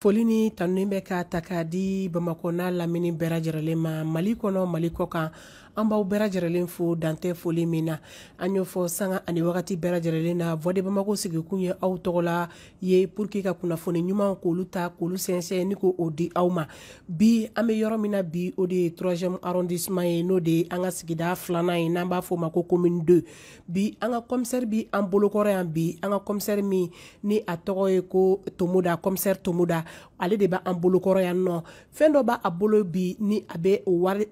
foli ni tanu bɛ ka ta k'a di bamakɔ n'a lamini bɛɛ lajɛrɛlen ma mali kɔnɔ mali kɔ kan an b'aw bɛɛ lajɛrɛlen fo dan tɛ foli min na an y'o fɔ sanga ani wagati bɛɛ lajɛrɛlen na voix de bamako sigikun ye aw tɔgɔ la ye pour que ka kunnafoni ɲuman k'olu ta k'olu sɛnsɛn ni k'o di aw ma bi an bɛ yɔrɔ min na bi o de ye troisième arrondissement ye n'o de ye an ka sigida filanan ye n'an b'a fɔ o ma ko commune 2 bi an ka commissaire bi an bolokɔrɔ yan bi an ka commissaire min ni a tɔgɔ ye ko tomoda commissaire tomoda ale de bɛ an bolokɔrɔ yan nɔ fɛn dɔ b'a a bolo bi ni a bɛ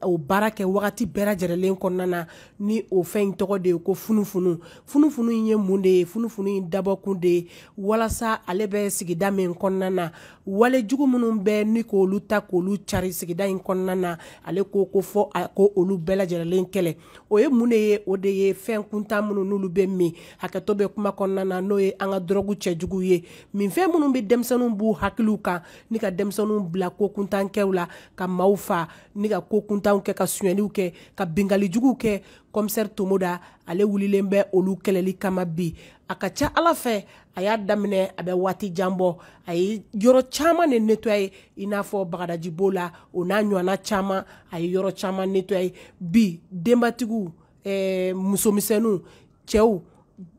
o baara kɛ wagati bɛɛ lajɛlen kɔnɔna na ni o fɛn in tɔgɔ de ye ko funufunu funufunu in ye mun de ye funufunu in dabɔkun de ye walasa ale bɛ sigida min kɔnɔna na wale jugu minnu bɛ ni k'olu ta k'olu cari sigida in kɔnɔna na ale ko fo a k'olu bɛɛ lajɛlen kɛlɛ o ye mun de ye o de ye fɛn kuntan minnu n'olu bɛ min hakɛto bɛ kuma kɔnɔna na n'o ye an ka dɔrɔgu cɛjugu ye min fɛn minnu bɛ denmisɛnninw b'u hakiliw kan ni ka denmisɛnninw bila ko kuntankɛw la ka maaw fa ni ka ko kuntanw kɛ ka sonyɛliw kɛ ka binkanni juguw kɛ commissaire tomoda ale wulilen bɛ olu kɛlɛli kama bi a ka ca ala fɛ a y'a daminɛ a bɛ waati jan bɔ a ye yɔrɔ caman de nettoyer i n'a fɔ bagadaji b'o la o n'a ɲɔgɔnna caman a ye yɔrɔ caman nettoyer bi denbatigiw eh, musomisɛnninw cɛw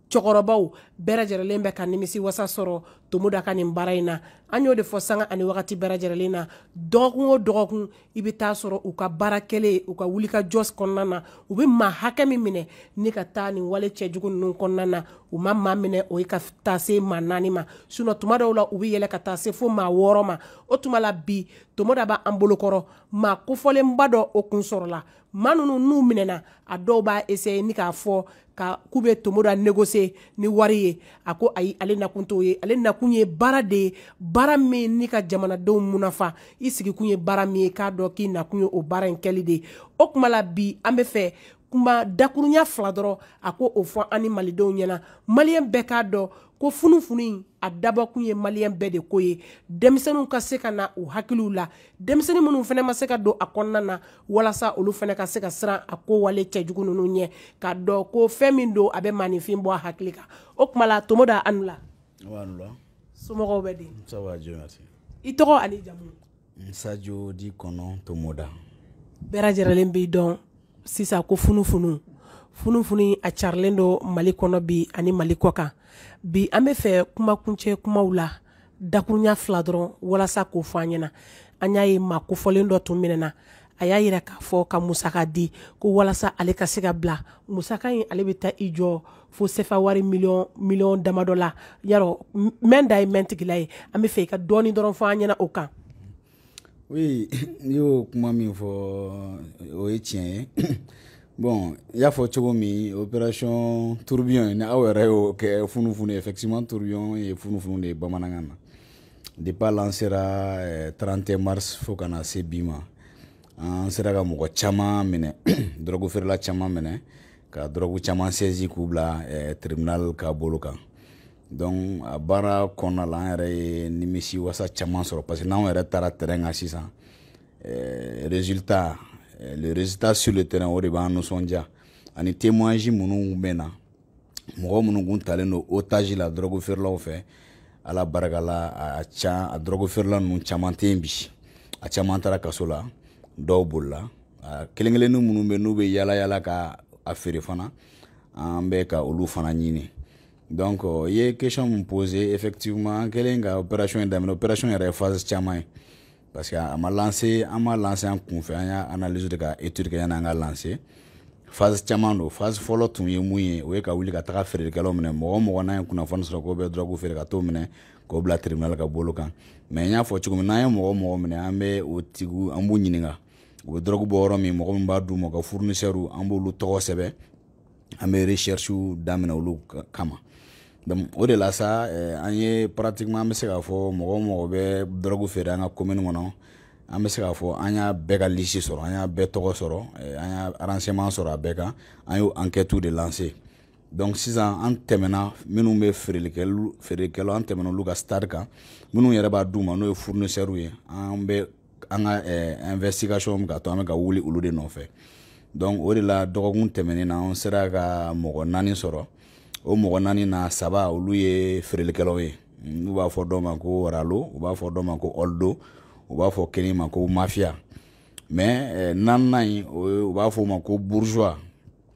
cɛkɔrɔbaw bɛɛ lajɛrɛlen bɛ ka nimisiwasa sɔrɔ tomoda ka nin baara in na an y'o de fɔ sanga ani wagati bɛɛ lajɛrɛlen na dɔgɔkun o dɔgɔkun i bɛ taa sɔrɔ u ka baara kɛlen u ka wulikajɔ kɔnɔna na u bɛ maa hakɛ min minɛ ni ka taa nin wale cɛjugu ninnu kɔnɔna na u ma maa minɛ o ye ka taa se maa naani ma sinon tuma dɔw la u bɛ yɛlɛ ka taa se fo maa wɔɔrɔ ma o tuma la bi tomoda b'an bolokɔrɔ maa kofɔlenba dɔw kun sɔrɔla maa ninnu n'u minɛna a dɔw b'a essayer ni k'a fɔ ka k'u bɛ tomoda négocier ni wari ye a ko ayi ale nakun t'o ye ale nakun ye baara de ye baara min ni ka jamanadenw munafa i sigikun ye baara min ye k'a dɔn k'i nakun ye o baara in kɛli de ye o kuma la bi an bɛ fɛ kuma dakurunya fila dɔrɔn a k'o fɔ an ni malidenw ɲɛna maliyɛn bɛɛ k'a dɔn ko funufunu in a dabɔkun ye maliyɛn bɛɛ de ko ye denmisɛnninw ka se ka na u hakiliw la denmisɛnnin minnu fana ma se ka don a kɔnɔna na walasa olu fana ka se ka siran a ko wale cɛjugu ninnu ɲɛ k'a dɔn ko fɛn min don a bɛ maaninfin bɔ a hakili kan o kuma la tomoda a ni wula somɔgɔw bɛ di i tɔgɔ ani jamu sadio dit konon tomoda bɛɛ lajɛlen b'i dɔn sisan ko funufunu funufunu a carilen don mali kɔnɔ bi ani mali kɔkan bi an bɛ fɛ kumakuncɛ kumaw la dakurunya fila dɔrɔn walasa k'o fɔ an ɲɛna an y'a ye maa kofɔlen dɔ tun minɛna a y'a jira k'a fɔ ka musaka di ko walasa ale ka se ka bila musaka in ale bɛ taa i jɔ fo sefa wari miliyɔn miliyɔn damadɔ la yarɔ mɛn da ye mɛntigila ye an bɛ fɛ i ka dɔɔni dɔrɔn fɔ an ɲɛna o kan oui n'i y'o kuma min fɔ o ye tiɲɛ ye bon i y'a fɔ cogo min opération tourbillon ni aw yɛrɛ y'o kɛ funufunu effectivement tourbillon ye funufunu de ye bamanankan na depuis a lansera 31 mars fo ka na se bi ma an sera ka mɔgɔ caman minɛ dɔrɔgu feerela caman minɛ ka dɔrɔgu caman sɛzi k'u bila eh, tribunal ka bolo kan donc a baara kɔnɔna la an yɛrɛ ye nimisiwasa caman sɔrɔ parce que n'anw yɛrɛ taara terrain kan sisan eh, résultat eh, le résultat sur le terrain o de b'an nisɔndiya ani témoignage minnu bɛ na mɔgɔ minnu kun talen don otage la dɔrɔgu feerelaw fɛ ala barika la a ca a dɔrɔgu feerela ninnu caman tɛ yen bi a caman taara kaso la dɔw bolila kelen kelennin minnu bɛ n'u bɛ yaala yaala ka a feere fana an bɛ ka olu fana ɲini donc i ye question min pose effectivement an kɛlen ka opération in daminɛ opération yɛrɛ ye phase caman ye parce que a ma lanse an m'a lanse an kunfɛ an y'a analyse de ka étude kɛ yan'an k'a lanse phase caman don phase fɔlɔ tun ye mun ye o ye ka wuli ka taga feerekɛlaw minɛ mɔgɔ o mɔgɔ n'an ye kunnafoni sɔrɔ k'o bɛ dɔrɔgu feere ka t'o minɛ k'o bila tribunal ka bolo kan mais n y'a fɔ cogo min n'an ye mɔgɔ o mɔgɔ minɛ an bɛ o tigiw an b'u ɲininka u bɛ dɔrɔgu bɔ yɔrɔ min mɔgɔ min b'a d'u ma u ka fournisseurs an b'olu tɔgɔ sɛbɛn an bɛ recherche daminɛ olu kama donc o de la sa eh, an ye pratiquement an bɛ se k'a fɔ mɔgɔ o mɔgɔ bɛ dɔrɔgu feere an ka commune kɔnɔ an bɛ se k'a fɔ an y'a bɛɛ ka lisi sɔrɔ an y'a bɛɛ tɔgɔ sɔrɔ eh, an y'a renseignement sɔrɔ a bɛɛ kan an y'o enquête de lancer donc sisan an tɛmɛna minnu bɛ feereli kɛ feerekɛlaw an tɛmɛna olu ka stade kan minnu yɛrɛ b'a d'u ma n'o ye fournisseurs ye an bɛ an ka eh, investigation bɛ ka to an bɛ ka wuli olu de nɔfɛ donc o de la dɔgɔkun tɛmɛnen na an sera ka mɔgɔ naani sɔrɔ o mɔgɔ naani na saba olu ye feerelikɛlaw ye n'u b'a fɔ dɔ ma ko ralo u b'a fɔ dɔ ma ko ɔldo u b'a fɔ kelen ma ko mafia mais eh, naaninan in u b'a fɔ o ma ko bourgeois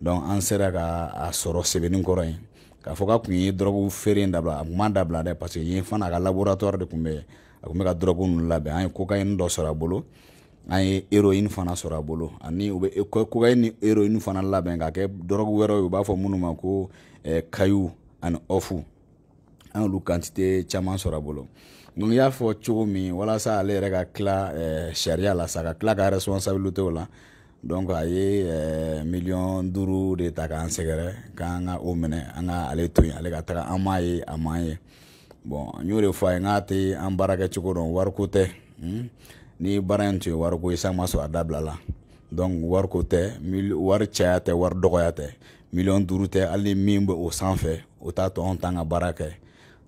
donc an sera ka a sɔrɔ sebeninkɔrɔ yen k'a fɔ k'a tun ye dɔrɔgu feere in dabila a tun m'a dabila dɛ parce que yen fana a ka laboratoire de tun bɛ a tun bɛ ka dɔrɔgu ninnu labɛn an ye kokayini dɔ sɔrɔ a bolo an ye héroïne fana sɔrɔ a bolo ani u bɛ kokayini ni héroïne fana labɛn k'a kɛ dɔrɔgu wɛrɛw ye u b'a fɔ minnu ma ko caillou ani off an y'olu quantité caman sɔrɔ a bolo donc y'a fɔ cogo min walasa ale yɛrɛ ka tila eh, sariya la sa ka tila ka responsabilité o la donc a ye eh, miliyɔn duuru de ta k'an sɛgɛrɛ k'an ka o minɛ an ka ale to yen ale ka taga an m'a ye a m'an ye bon n y'o de fɔ a ye n k'a tɛ an baara kɛ cogo dɔn wariko tɛ hmm? ni baara in tun ye wariko ye san ma sɔrɔ a dabilala donc wariko tɛ wari caya tɛ wari dɔgɔya tɛ miliyɔn duuru tɛ hali min bɛ o sanfɛ o t'a to anw t'an ka baara kɛ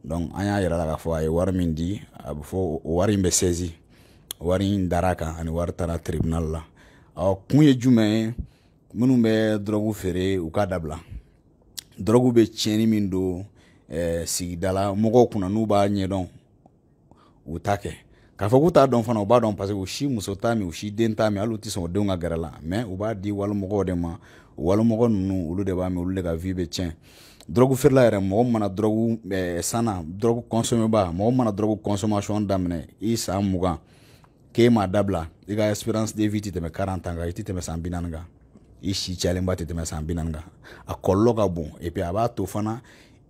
donc an y'a yira a la k'a fɔ a ye wari min di a bɛ fɔ o wari in bɛ saisi wari in dara a kan a ni wari taara tribunal la o kun ye jumɛn ye minnu bɛ dɔrɔgu feere u k'a dabila dɔrɔgu bɛ tiɲɛni min don eh, sigidala mɔgɔw kunna n'u b'a ɲɛdɔn u t'a kɛ k'a fɔ k'u t'a dɔn fana u b'a dɔn parce que u si muso t'a min u si den t'a min hali u tɛ sɔn u denw ka gɛrɛ a la mais u b'a di walimɔgɔw de ma o walimɔgɔ ninnu olu de b'a min olu de ka vie bɛ tiɲɛ dɔrɔgu feerela yɛrɛ mɔgɔ mana dɔrɔgu eh, sanna dɔrɔgu kɔnsɔmeba mɔgɔ mana dɔrɔgu consommation daminɛ i san mugan k'e m'a dabila i ka espérance de vie tɛ tɛmɛ 40 ans kan i tɛ tɛmɛ san bi naani kan i si cayalenba tɛ tɛmɛ san bi naani kan a kɔlɔlɔ ka bon et puis a b'a to fana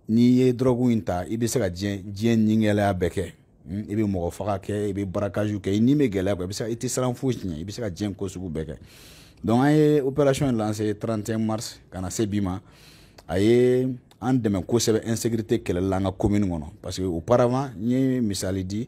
n'i ye dɔrɔgu in ta i bɛ se ka diɲɛ diɲɛ nigɛlɛya bɛɛ kɛ hmm, i bɛ mɔgɔ faga kɛ i bɛ braquage kɛ i ni bɛ gɛlɛya kɔ i bɛ se i tɛ siran foyi ɲɛ i bɛ se ka diɲɛ ko sugu bɛɛ kɛ donc an ye opération in lancer 31 mars ka na se bi ma a ye an dɛmɛ kosɛbɛ insécurité kɛlɛli la an ka commune kɔnɔ parce que auparavant n ye misali di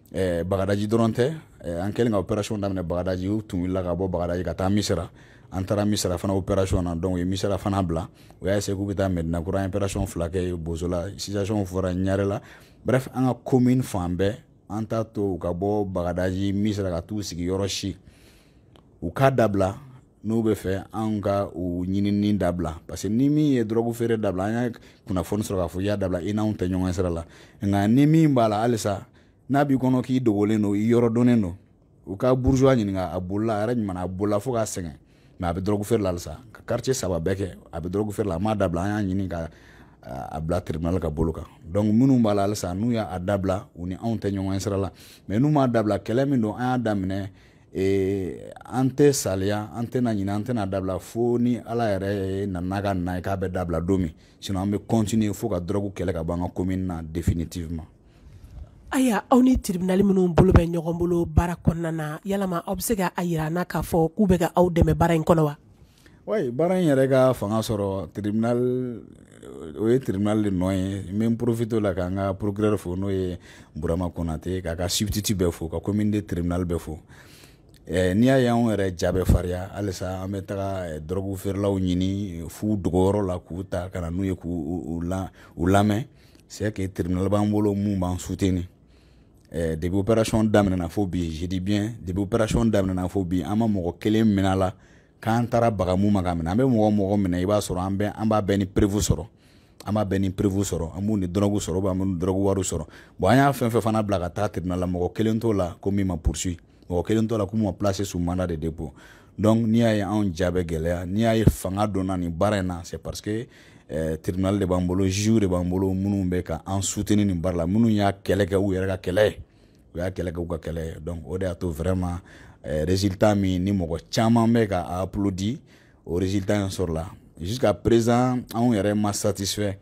eh, bagadaji dɔrɔn tɛ eh, an kɛlen ka opération daminɛ bagadaji u tun wulila ka bɔ bagadaji ka taa misira an taara misira fana opération na donc u ye misira fana bila u y'a essayer k'u bɛ taa mɛdina kura an opération fila kɛ bozola situation fɔra ɲarela bref an ka commune fan bɛɛ an t'a to u ka bɔ bagadaji misira ka t'u sigi yɔrɔ si u k'a dabila n'u b'a fɛ anw ka u ɲinini dabila parce que ni min ye dɔrɔgu feere dabila an y'a kunnafoni sɔrɔ k'a fɔ i y'a dabila i n'anw tɛ ɲɔgɔn sira la nka ni min b'a la halisa n'a b'i kɔnɔ k'i dogolen don i yɔrɔ dɔnnen don u ka bourgeois ɲininka a bolila a yɛrɛ ɲuman a bolila fo k'a sɛgɛn mais a bɛ dɔrɔgu feere la halisa ka quartier saba bɛɛ kɛ a bɛ dɔrɔgu feere la a m'a dabila an y'a ɲini ka a bila tribunal ka bolo kan donc minnu b'a la halisa n'u y'a dabila u ni anw tɛ ɲɔgɔn sira la mais n'u m'a dabila kɛlɛ min don an y'a daminɛ ee an tɛ saliya an tɛna ɲinɛ an tɛna dabila fo ni ala yɛrɛ nana ka na ye k'a bɛ dabila don min sinon an bɛ continuer fo ka dɔrɔgu kɛlɛ ka bɔ an ka commune na définitivement Aya aw ni tribunal minnu bolo bɛ ɲɔgɔn bolo baara kɔnɔna na yalama aw bɛ se ka a jira an na k'a fɔ k'u bɛ ka aw dɛmɛ baara in kɔnɔ wa? wa baara in yɛrɛ ka fanga sɔrɔ tribunal o ye tribunal de nɔ ye n bɛ n profiter o la k'an ka procureur fo n'o ye burama konate k'a ka substitut bɛɛ fo ka commune 2 tribunal bɛɛ fo eh, n'i y'a ye anw yɛrɛ ja bɛ farinya halisa an bɛ taga eh, dɔrɔgu feerelaw ɲini f'u dogoyɔrɔ la k'u ta ka na n'u ye k'u lamɛn c'est que tribunal b'an bolo min b'an soutenir eh, depuis opération daminɛna fo bi je dis bien depuis opération daminɛna fo bi an ma mɔgɔ kelen minɛ a la k'an taara baga min ma k'a minɛ an bɛ mɔgɔ mɔgɔ minɛ i b'a sɔrɔ an bɛ an b'a bɛɛ ni preuve sɔrɔ an b'a bɛɛ ni preuve sɔrɔ an b'u ni dɔrɔgu sɔrɔ an b'u ni dɔrɔgu wariw sɔrɔ bon an y'a fɛn fɛn fana bila ka taa tribunal la mɔgɔ kelen t'o la ko min ma poursuit mɔgɔ kelen t'o la ko min ma placé sous mandat de dépôt donc n'i y'a ye anw ja bɛ gɛlɛya n'i y'a ye fanga donna nin baara in na c'est parce que eh, tribunal de b'an bolo juge de b'an bolo minnu bɛ ka an soutenir nin baara la minnu y'a kɛlɛ kɛ u yɛrɛ ka kɛlɛ ye u y'a kɛlɛ kɛ u ka kɛlɛ ye donc o de y'a to vraiment eh, résultat min ni mɔgɔ caman bɛ ka a applaudir o résultat in sɔrɔla jusqu'à présent anw yɛrɛ ma satisfait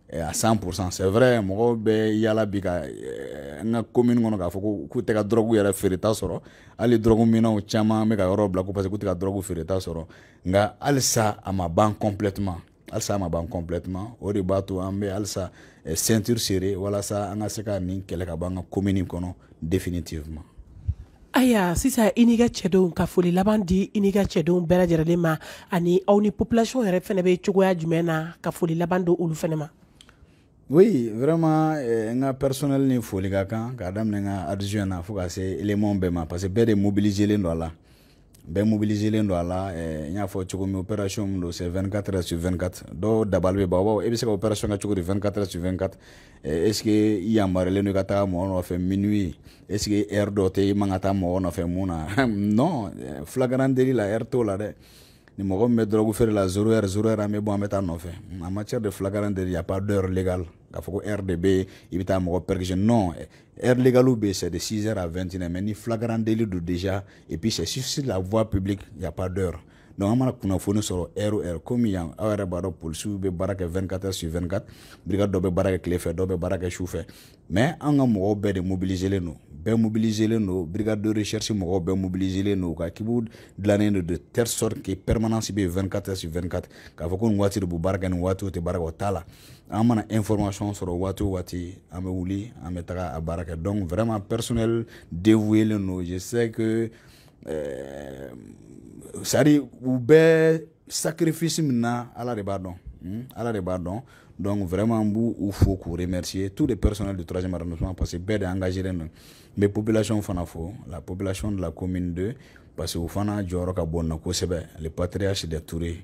eh, à 100% c'est vrai mɔgɔw bɛ yala bi ka eh, n ka commune kɔnɔ k'a fɔ ko k'u tɛ ka dɔrɔgu yɛrɛ feereta sɔrɔ hali dɔrɔgu minnaw caman bɛ ka yɔrɔ bila ko parce que k'u tɛ ka dɔrɔgu feereta sɔrɔ nka halisa a ma ban complètement halisa a ma ban complètement o de b'a to an bɛ halisa eh, ceinture serrer walasa an ka se ka nin kɛlɛ ka bɔ an ka commune kɔnɔ définitivement ayiwa sisan i n'i ka cɛdenw ka foli laban di i n'i ka cɛdenw bɛɛ lajɛlen ma ani aw ni population yɛrɛ fɛnɛ bɛ cogoya jumɛn na ka foli laban d'olu fɛnɛ ma. oui vraiment eh, n ka personnel ni foli ka kan k'a daminɛ n ka adjoint na fo ka se élément bɛɛ ma parce que bɛɛ de mobiliselen don a la. bɛɛ mobiliselen don a la eh, n y'a fɔ cogo min opération min don c'est 24 heures sur 24 dɔw dabali bɛ ban u b'a fɔ e bɛ se ka opération kɛ cogo di 24 heures sur 24 eh, est ce que i yamaruyalen don i ka taa mɔgɔ nɔfɛ minuit est ce que heure dɔ tɛ i man ka taa mɔgɔ nɔfɛ mun na non eh, flagrant délit la heure t'o la dɛ ni mɔgɔ min bɛ dɔrɔgu feere la zéro heure zéro heure an bɛ bɔ an bɛ taa nɔfɛ en matière de flagrant délit y a pas d'heure légale k'a fɔ ko heure de bɛ yen i bɛ taa mɔgɔ perquisitionner non Heure légale bɛ c'est de 6h à 21h mais ni flagrant délit don déjà et puis c'est sur la voie publique il y a pas d'heure donc an mana kunnafoni sɔrɔ heure o heure komi yan aw yɛrɛ b'a dɔn polisiw bɛ baara kɛ 24 heures sur 24 brigade dɔ bɛ baara kɛ tile fɛ dɔw bɛ baara kɛ su fɛ mais an ka mɔgɔw bɛɛ de mobiliselen don bɛɛ mobiliselen don brigade de recherche mɔgɔw bɛɛ mobiliselen don u ka équipe dilannen don de telle sorte que permanence bɛ yen 24 heures sur 24 k'a fɔ ko nin waati de b'u baara kɛ nin waati u tɛ baara kɛ o t'a la an mana information sɔrɔ waati o waati an bɛ wuli an bɛ taga a baara kɛ donc vraiment personnel dévoué len don je sais que euh, c'est à dire u bɛ sacrifice min na ala de b'a dɔn hmm? ala de b'a dɔn donc vraiment n b'u fo k'u remercier tous les personnels du troisième arrondissement parce que bɛɛ de engagé len don n bɛ population fana fo la population de la commune 2 parce que u fana jɔyɔrɔ ka bon na kosɛbɛ le patriarche de Toure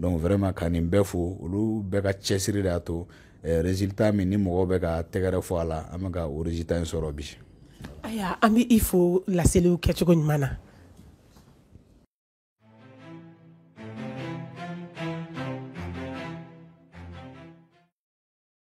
donc vraiment ka nin bɛɛ fo olu bɛɛ ka cɛsiri de y'a to eh, résultat min ni mɔgɔw bɛ ka tɛgɛrɛ fɔ a la an bɛ ka o résultat in sɔrɔ bi aya an bɛ i fo laseliw kɛcogo ɲuman na